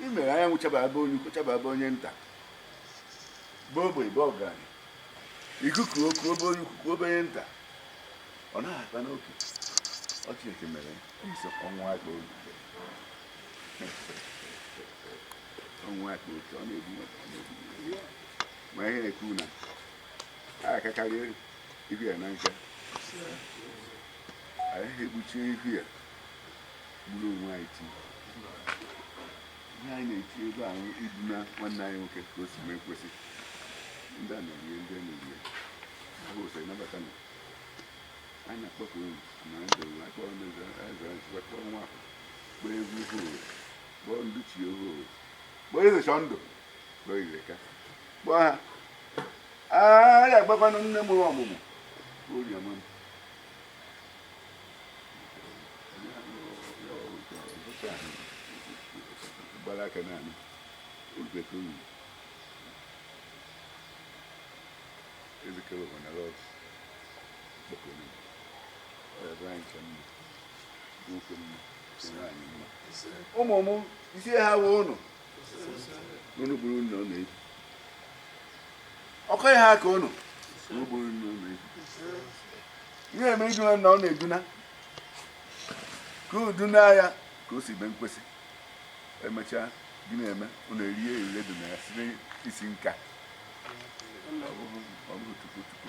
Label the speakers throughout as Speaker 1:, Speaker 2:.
Speaker 1: i mere anyanwụ chaba ebe onye ukwu chaba ebe onye nta bụ ogbe bụ ọgaranya ikuku o kuo be onye ukwu kuo be onye nta ọ naghị akpa n'oke ọ Chineke mere nsọ ọnwụ akpa obi ọnwụ akpa oke ọ na-ebu maka ọ na-ebu ma ihe na-ekwu na a akakarị ihu ya na nka anyị egbuchie ihu ya gburu onwe anyị ti ihe anyị na-eti ebe ahụ iduna nwanne anyị nwoke ka o si mee kwesị ndị a na-erie ndị a na-erie ahụ ụsọ ịnabata na anyị na-akpọku unu ma ndị ụwa akpọrọ ndị eze eze anyị sikwa kpọọ nwa afọ kpọọ egwu ohu owe kpọọ ndị chi ohu owe kpọọ eze chọọ ndụ kpọọ Ireka kpọọ ha a ya agbakwanụ nne mụrụ ọmụmụ oriọma m gbara aka naanị ogbete oyi ezikere ọbana lọt kpọkọrọ ọyọdọ anyị ka mma nwoke mma nwaanyị mma ụmụ m isi ha wee ụnụ ọkọ ihe aka ụnụ ihe eme iduna na ọ na-eduna ka uduna ya ka o si mee kwesị emechaa gị na-eme ọ na-eri erire dị na ya si n'isi nka ọ bụghị tupu tupu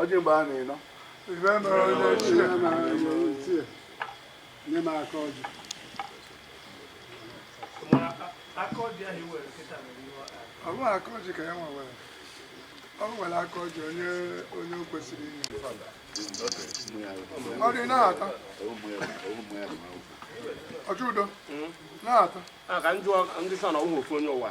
Speaker 1: ọjị mgbe a na-enọ ibe mere onye ochie
Speaker 2: nye m aka ọjị ọ bụghị aka ọjị ka ya nwa nwere ọ nwere aka ọjị onye onye o kwesịrị inye ọ dị na-ata ọjị udo na-ata a ka
Speaker 3: ndị sọ na ọhụrụ ofu onye ụwa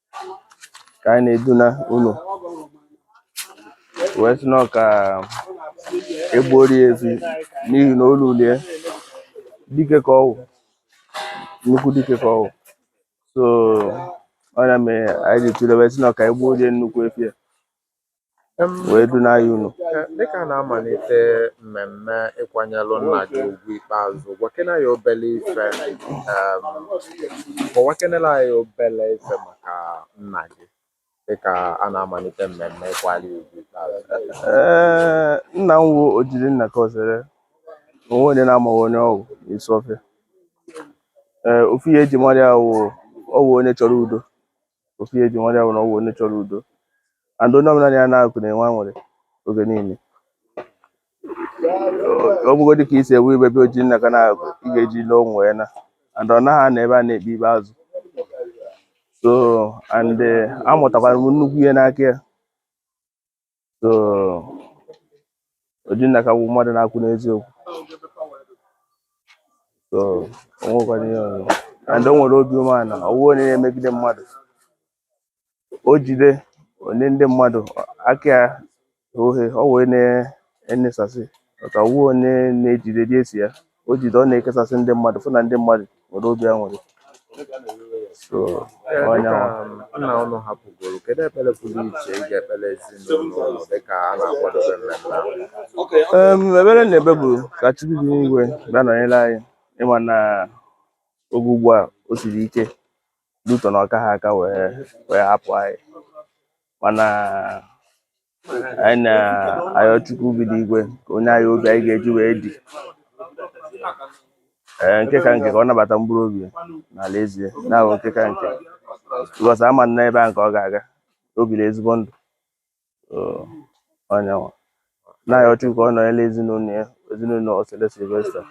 Speaker 4: ka anyị na-eduna unu wee sị na ọ ka egbuori ya efi n'ihi na olu lie dike ka ọ wụ nnukwu dike ka ọ wụ so ọ nya mere anyị ji tụle wee sị na ọ ka egbuori ya nnukwu efi a wee duna ya unu dịka a
Speaker 5: na-amalite mmemme ịkwanyelụ nna gị ugwu ikpeazụ gwakene anyị obele ife kọwakenelụ anyị obele ife maka nna gị dịka a na-amalite mmemme ịkwali ya ugwu ikpeazụ
Speaker 4: ee nna m wụ Ojirinnaka Osere o nwe onye na-amaghị onye ọ wụ n'Isuofia ee ofu ihe e ji mara ya wụ ọ wụ onye chọrọ udo ofu ihe eji mara ya bụ na ọ bụ onye chọrọ udo and onye ọbụla na ya na-akụ na-enwe aṅụrị oge niile ọ bụgodị ka isi ewu ibe be Ojinnaka na-akụ ị ga-eji ile onwe ya na and ọ naghị anọ ebe a na-ekpe ibe azụ so and eh, amụtakwara m nnukwu ihe n'aka ya so Ojinnaka bụ mmadụ na-akwụ n'eziokwu so o nwekwara ihe ọzọ and o nwere obi umeala ọ wụ onye na-emegide mmadụ o jide o nye ndị mmadụ aka ya oghe ọ wee na-enyesasị maka ọ wụ onye na-ejide dị esi ya o jide ọ na-ekesasị ndị mmadụ fụ na ndị mmadụ nwere obi aṅụrị so
Speaker 5: onye nna ụnụ hapụgoro kedu ekpere pụrụ iche ị ga-ekpere ezinụlọ ụlọ dịka a na-akwadobe mmemme ahụ Em, ekpere m na-ekpe
Speaker 4: bụ ka Chukwu bi n'igwe bịa nọnyere anyị ị ma na oge ugbu a o siri ike due to na ọ kaha aka wee hapụ anyị mana anyị na-ayọ Chukwu bi n'igwe ka o nye anyị obi anyị ga-eji wee die nke ka nke ka ọ nabata mkpụrụ obi ya n'alaeze ahụ nke ka nke because ama m na ebe ahụ ka ọ ga-aga o biri ezigbo ndụ anyịnwa na-ayọ Chukwu ka ọ nọnyere ezinụlọ ya ezinụlọ Osele Sylvester